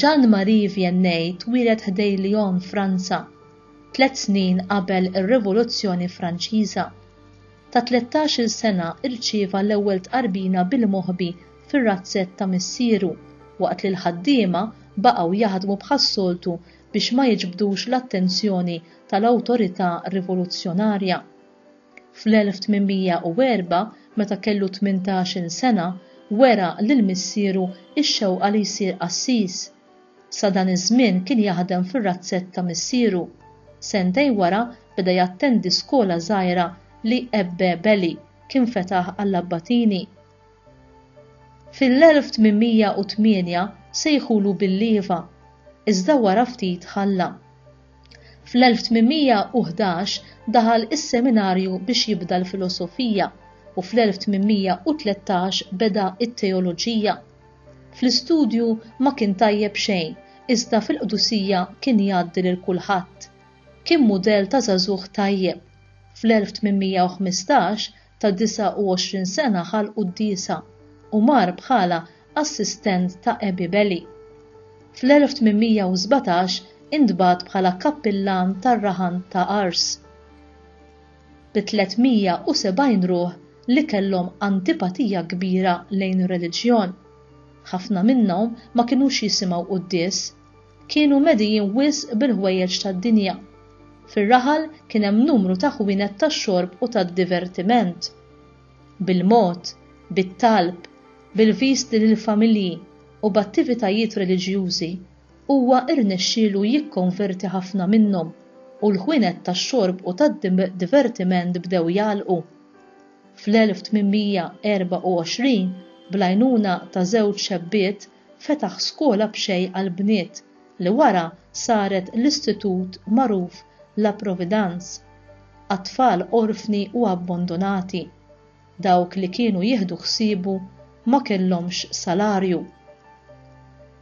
Jean Marie Vianney twieled ħdej Lyon, Franza, tliet snin qabel ir-Rivoluzzjoni Franċiża. Ta' tlettax-il sena rċieva l-ewwel tqarbina bil-moħbi fir-razzett ta' missieru, waqt li l-ħaddiema baqgħu jaħdmu bħas-soltu biex ma jiġbdux l-attenzjoni tal-awtorità rivoluzzjonarja. Fl-1804, meta kellu tmintax-il sena, wera lil missieru x-xewqa li jsir qassis. Sa dan iż-żmien kien jaħdem fir-razzett ta' missieru. Sentejn wara beda jattendi skola żgħira li Ebbe Belli kien fetaħ għall-abbatini. Fil-1808 sejħulu bil-lieva, iżda wara ftit ħalla. Fl-1811 daħal is-seminarju biex jibda l-filosofija u fl-1813 beda t-teoloġija. Fl-istudju ma kien tajjeb xejn, iżda fil-qdusija kien jgħaddi lil kulħadd. Kien mudell ta' żagħżugħ tajjeb. Fl-1815 ta' 29 sena ħal quddiesa u mar bħala assistent ta' Abby Belly. Fl-1817 intbagħat bħala kappillan tar-rahan ta' Ars. Bi 370 ruħ li kellhom antipatija kbira lejn ir-reliġjon. Ħafna minnhom ma kinux jisimgħu quddies kienu medijin wisq bil-ħwejjeġ tad-dinja. Fir-raħal kien hemm numru ta' ħwienet tax-xorb u tad-divertiment. Bil-mod, bit-talb, bil-viżti lill-familji, u b'attivitajiet reliġjużi, huwa rnexxielu jikkonverti ħafna minnhom u l-ħwienet tax-xorb u tad-divertiment bdew jagħlqu. Fl-1824, bl-għajnuna ta' żewġ xebbiet, fetaħ skola b'xejn għall-bniet li wara saret l-istitut magħruf La Providence għat-tfal orfni u abbondunati. Dawk li kienu jieħdu ħsiebu ma kellhomx salarju.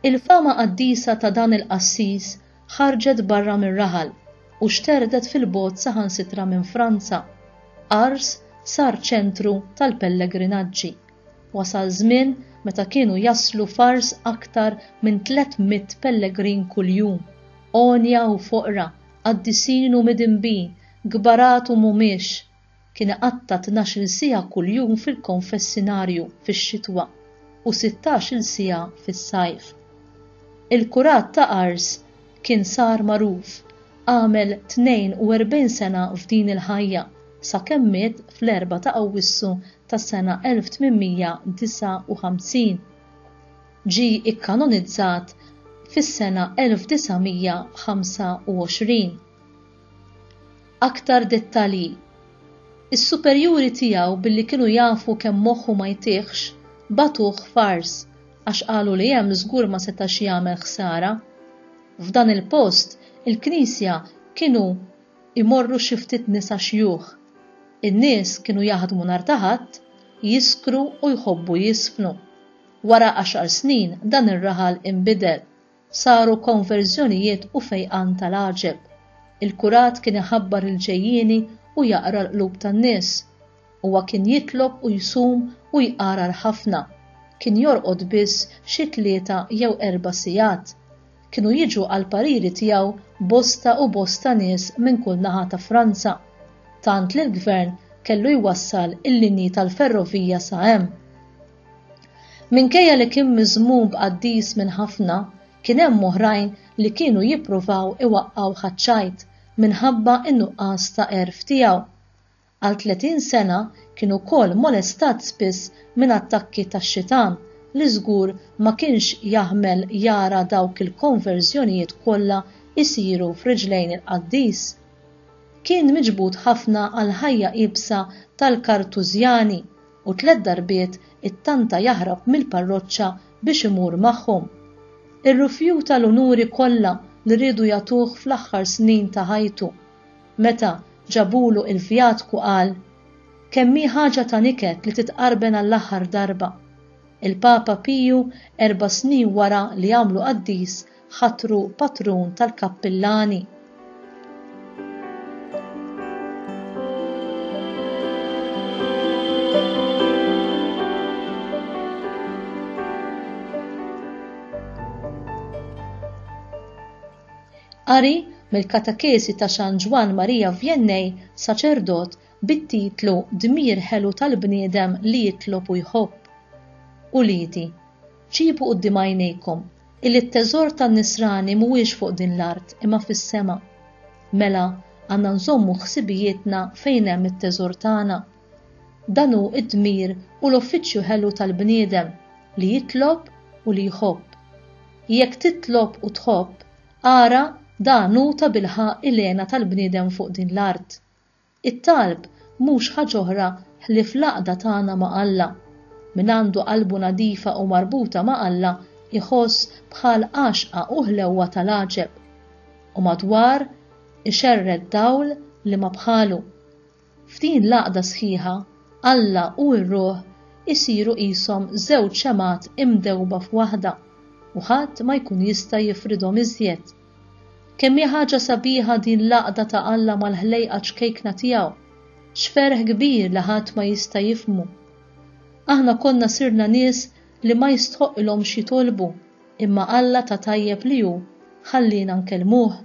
Il-fama qaddisa ta' dan il-qassis ħarġet barra mir-raħal u xterdet fil-bogħod saħansitra minn Franza. Ars sar ċentru tal-pellegrinaġġi. Wasal żmien meta kienu jaslu f'Ars aktar minn tliet mitt pellegrin kuljum, għonja u foqra, qaddisin u midinbin, kbarat u mhumiex. Kien iqatta' tnax-il siegħa kuljum fil-konfessinarju fix-xitwa u sittax-il siegħa fis-sajf. Il-kurat ta' Ars kien sar magħruf, għamel 42 sena f'din il-ħajja, sakemm miet fl-Erbgħa ta' Awwissu tas-sena 1859. Ġie ikkanonizzat fis-sena 1925. Aktar dettalji Is-superjuri tiegħu billi kienu jafu kemm moħħu ma jtihx, bagħtuh f'Ars għax qalu li hemm żgur ma setax jagħmel ħsara. F'dan il-post, il-knisja kienu imorru xi ftit nisa xjuħ. In-nies kienu jaħdmu nhar ta' Ħadd, jiskru u jħobbu jiżfnu. Wara għaxar snin dan ir-raħal inbidel. Saru konverżjonijiet u fejqan tal-għaġeb. Il-kurat kien iħabbar il-ġejjieni u jaqra l-qlub tan-nies. Huwa kien jitlob u jsum u jqarar ħafna. Kien jorqod biss xi tlieta jew erba' sigħat. Kienu jiġu għall-pariri tiegħu bosta u bosta nies minn kull naħa ta' Franza, tant li l-gvern kellu jwassal il-linji tal-ferrovija sa hemm. Minkejja li kien miżmum b'qaddis minn ħafna, kien hemm oħrajn li kienu jippruvaw iwaqqgħuh għaċ-ċajt minħabba n-nuqqas ta' għerf tiegħu. Għal 30 sena kien ukoll molestat spiss minn attakki tax-xitan li żgur ma kienx jaħmel jara dawk il-konverżjonijiet kollha jsiru f'riġlejn il-qaddis. Kien miġbud ħafna għall-ħajja iebsa tal-Kartużjani u tliet darbiet ittanta jaħrab mill-parroċċa biex imur magħhom. Irrifjuta l-unuri kollha li riedu jagħtuh fl-aħħar snin ta' ħajtu. Meta ġabulu il-vjatku qal, Kemm hi ħaġa ta' niket li titqarben għall-aħħar darba. Il-Papa Piju erba' snin wara li għamlu qaddis ħatru patrun tal-kappillani. Qari mill-katakesi ta' San Ġwann Marija Vjennej, saċerdot, bit-titlu Dmir ħelu tal-bniedem li jitlob u jħobb. Uliedi, ġibu quddiem għajnejkom Illi t-teżor tan-nisrani mhuwiex fuq din l-art imma fis-sema. Mela, għandna nżommu ħsibijietna fejn hemm it-teżor tagħna. Dan hu d-dmir u l-uffiċċju ħelu tal-bniedem, li jitlob u li jħobb. Jekk titlob u tħobb, ara dan hu tabilħaqq il-hena tal-bniedem fuq din l-art. It-talb mhux ħaġa oħra ħlief l-għaqda tagħna ma' Alla. Min għandu qalbu nadifa u marbuta ma' Alla jħoss bħal għaxqa u ħlewwa ta' l-għaġeb. U madwar ixerred dawl li ma bħalu. F'din l-għaqda sħiħa, Alla u r-ruħ isiru qishom żewġ xemgħat imdewba f'waħda u ħadd ma jkun jista' jifridhom iżjed. Kemm hi ħaġa sabiħa din l-għaqda ta' Alla mal-ħlejqa ċkejkna tiegħu! X'ferħ kbir li ħadd ma jista' jifhmu! Aħna konna sirna nies li ma jistħoqqilhomx jitolbu, imma Alla ta' tajjeb li hu ħalliena nkellmuh.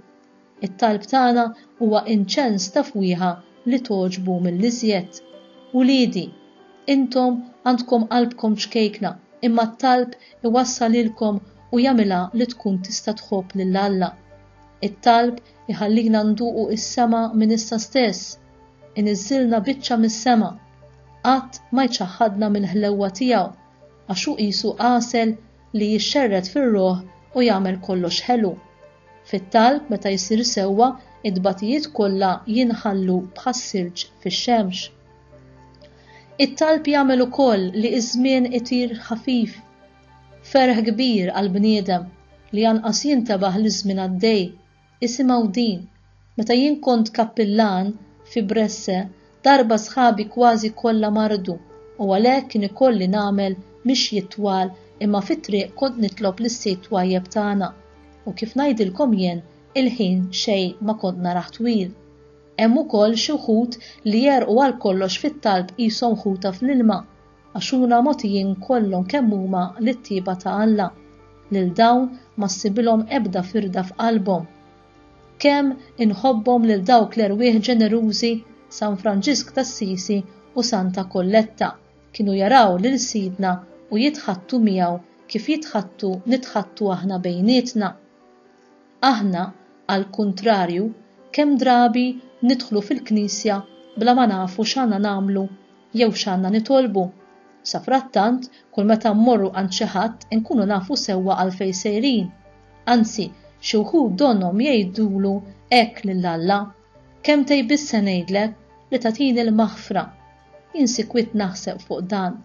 It-talb tagħna huwa inċens ta' fwieħa li togħġbu mill-iżjed. Uliedi, intom għandkom qalbkom ċkejkna, imma t-talb iwassal lilkom u jagħmilha li tkun tista' tħobb lil Alla. It-talb iħallina nduqu s-sema minn issa stess, iniżżilna biċċa mis-sema, qatt ma jċaħħadna mill-ħlewwa tiegħu, għax hu qisu għasel li jixxerred fir-ruħ u jagħmel kollox ħelu. Fit-talb meta jsir sewwa, it-tbatijiet kollha jinħallu bħas-silġ fix-xemx. It-talb jagħmel ukoll li ż-żmien itir ħafif Ferħ kbir għall-bniedem li anqas jintebaħ li ż-żmien għaddej. Isimgħu din, Meta jien kont kappillan fi Bresse, darba sħabi kważi kollha mardu u għalhekk kien ikolli nagħmel mixjiet twal imma fit-triq kont nitlob lis-Sid twajjeb tagħna. U kif ngħidilkom jien, il-ħin xejn ma kont narah twil. Hemm ukoll xi wħud li jegħrqu għal kollox fit-talb qishom ħuta fl-ilma. Għax huna mogħtijin kollhom kemm huma lit-tjieba ta' Alla, lil dawn ma ssibilhom ebda firda f'qalbhom. Kemm inħobbhom lil dawk l-erwieħ ġenerużi, San Franġisk t'Assisi u Santa Kolletta kienu jaraw lil Sidna u jitħaddtu miegħu kif jitħaddtu nitħaddtu aħna bejnietna. Aħna, għall-kuntrarju, kemm drabi nidħlu fil-knisja bla ma nafu x'għandna nagħmlu Jew x'għandna nitolbu? Safrattant, kull meta mmorru għand xi ħadd inkunu nafu sewwa għalfejn sejrin. Anzi, xi wħud donnhom jgħidulu hekk lil Alla, Kemmtej biss se ngħidlek li tagħtini l-maħfra. Jien sikwit naħseb fuq dan.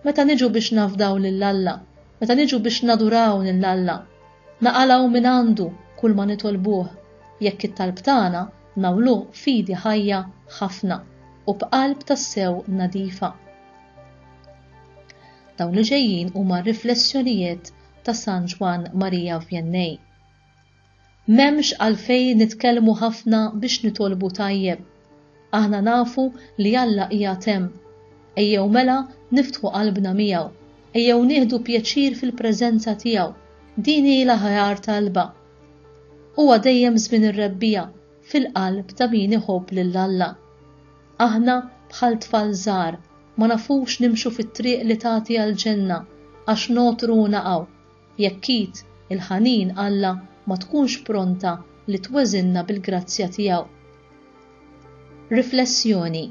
Meta niġu biex nafdaw lil Alla, meta niġu biex naduraw lil Alla, naqalgħu mingħandu kull ma nitolbuh, jekk it-talb tagħna Nagħmluh f'idi ħajja ħafna u b'qalb tassew nadifa. Dawn li ġejjin huma r-riflessjonijiet ta' San Ġwann Marija Vjennej. M'hemmx għalfejn nitkellmu ħafna biex nitolbu tajjeb. Aħna nafu li Alla qiegħed hemm. Ejjew mela niftħu qalbna miegħu. Ejjew nieħdu pjaċir fil-preżenza tiegħu. Din hi l-aħjar talba. Huwa dejjem żmien ir-rebbiegħa fil-qalb ta' min iħobb lil Alla. Aħna bħal tfal żgħar, ma nafux nimxu fit-triq li tagħti għall-ġenna għax nogħtru u naqgħu, jekk id il-ħanin Alla ma tkunx pronta li tweżinna bil-grazzja tiegħu. Riflessjoni,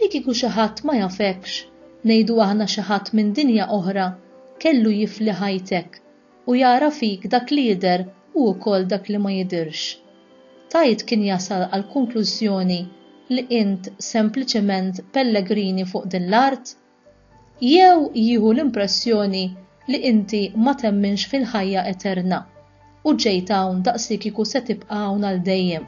Li kieku xi ħadd ma jafekx, ngħidu aħna xi ħadd minn dinja oħra, kellu jifli ħajtek u jara fik dak li jidher u wkoll dak li ma jidhirx. Tait kien jasal għall-konklużjoni li int sempliċement pellegrini fuq din l-art? Jew jieħu l-impressjoni li inti ma temminx fil-ħajja eterna u ġejt hawn daqsikieku se tibqa' hawn għal dejjem?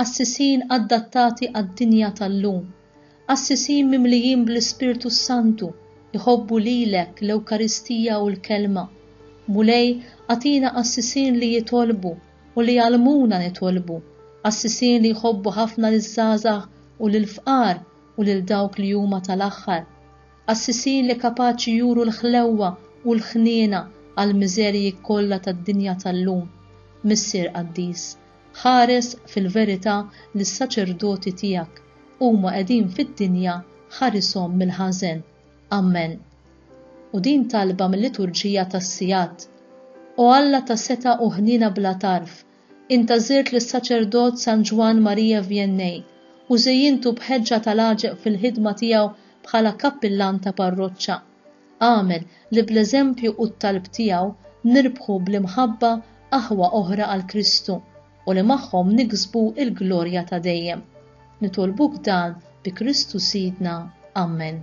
Qassisin adattati għad-dinja tal-lum, qassisin mimlijin bl-Ispirtu s-Santu, jħobbu lilek, l-Ewkaristija u l-Kelma. Mulej, agħtina qassisin li jitolbu u li jgħallmuna nitolbu, qassisin li jħobbu ħafna liż-żgħażagħ u lill-fqar u lil dawk li huma tal-aħħar, qassisin li kapaċi juru l-ħlewwa u l-ħniena għall-miżerji kollha tad-dinja tal-lum. Missier qaddis. Ħares fil-verità lis-saċerdoti tiegħek, huma qegħdin fid-dinja ħarishom mill-ħażen. Ammen. U din talba mil-liturġija tas-sigħat. O Alla ta' setgħa u ħniena bla tarf, int għażilt lis-saċerdot San Ġwann Maria Vianney u żejjintu b'ħeġġa tal-għaġeb fil-ħidma tiegħu bħala kappillan ta' parroċċa. Agħmel li bl-eżempju u t-talb tiegħu nirbħu bl-imħabba aħwa oħra għal Kristu u li magħhom niksbu l-glorja ta' dejjem. Nitolbuk dan bi Kristu Sidna. Ammen.